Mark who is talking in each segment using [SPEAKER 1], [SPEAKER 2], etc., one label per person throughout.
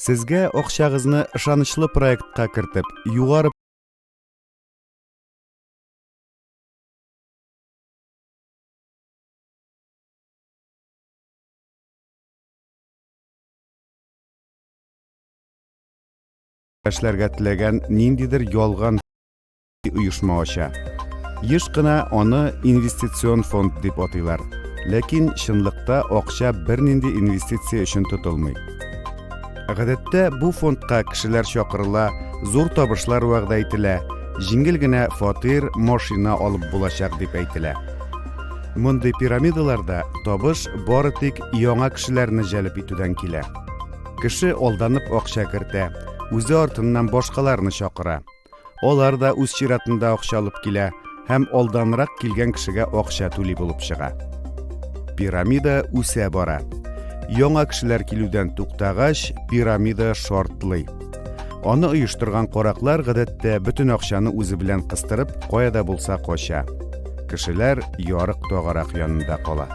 [SPEAKER 1] Сезгә акчагызны ышанычлы проектка кертеп, югары эшләргә теләгән ниндидер ялган оешма ача. Еш кына аны инвестицион фонд дип атыйлар. Ләкин чынлыкта акча бернинди инвестиция өчен тотылмый. Гадәттә бу фондка кешеләр чакырыла, зур табышлар вәгъдә ителә, җиңел генә фатир, машина алып булачак дип әйтелә. Мондый пирамидаларда табыш бары тик яңа кешеләрне җәлеп итүдән килә. Кеше алданып акча кертә, үзе артыннан башкаларны чакыра. Алар да үз чиратында акча алып килә һәм алданрак килгән кешегә акча түли булып чыга. Пирамида үсә бара. Яңа кешеләр килүдән туктагач, пирамида шартлый. Аны оештырган караклар гадәттә бөтен акчаны үзе белән кыстырып, кая да булса кача. Кешеләр ярык тагарак янында кала.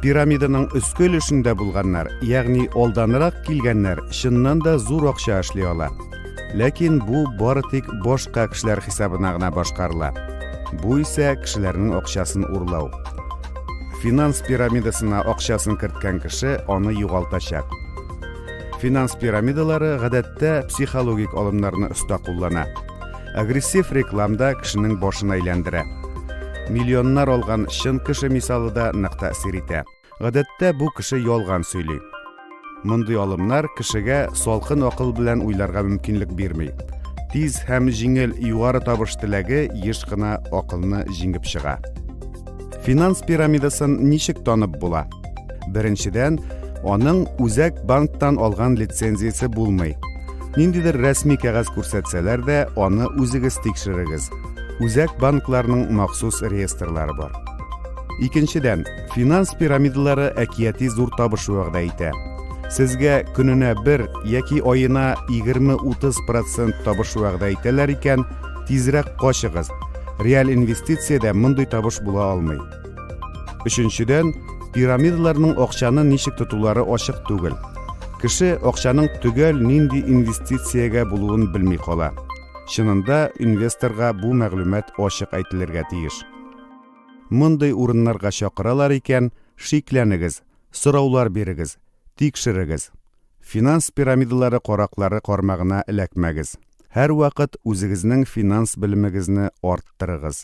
[SPEAKER 1] Пирамиданың өске өлешендә булганнар, ягъни алданрак килгәннәр, чыннан да зур акча эшли ала. Ләкин бу бары тик башка кешеләр хисабына гына башкарыла. Бу исә кешеләрнең акчасын урлау. Финанс пирамидасына акчасын керткән кеше аны югалтачак. Финанс пирамидалары гадәттә психологик алымнарны оста куллана. Агрессив рекламда кешенең башын әйләндерә. Миллионнар алган чын кеше мисалы да нык тәэсир итә. Гадәттә бу кеше ялган сөйли. Мондый алымнар кешегә салкын акыл белән уйларга мөмкинлек бирми. Тиз һәм җиңел югары табыш теләге еш кына акылны җиңеп чыга. Финанс пирамидасын ничек танып була? Беренчедән, аның үзәк банктан алган лицензиясе булмый. Ниндидер рәсми кәгазь күрсәтсәләр дә, аны үзегез тикшерегез. Үзәк банкларның махсус реестрлары бар. Икенчедән, Финанс пирамидалары әкияти зур табыш вәгъдә итә. Сезгә көненә бер яки аена 20-30 процент табыш вәгъдә итәләр икән, тизрәк качыгыз. Реаль инвестициядә мондый табыш була алмый. Өченчедән, пирамидаларның акчаны ничек тотулары ачык түгел. Кеше акчаның төгәл нинди инвестициягә булуын белми кала. Чынында инвесторга бу мәгълүмат ачык әйтелергә тиеш. Мондый урыннарга чакыралар икән, шикләнегез, сораулар бирегез, тикшерегез. Финанс пирамидалары караклары кармагына эләкмәгез. Һәрвакыт үзегезнең финанс белемегезне арттырыгыз.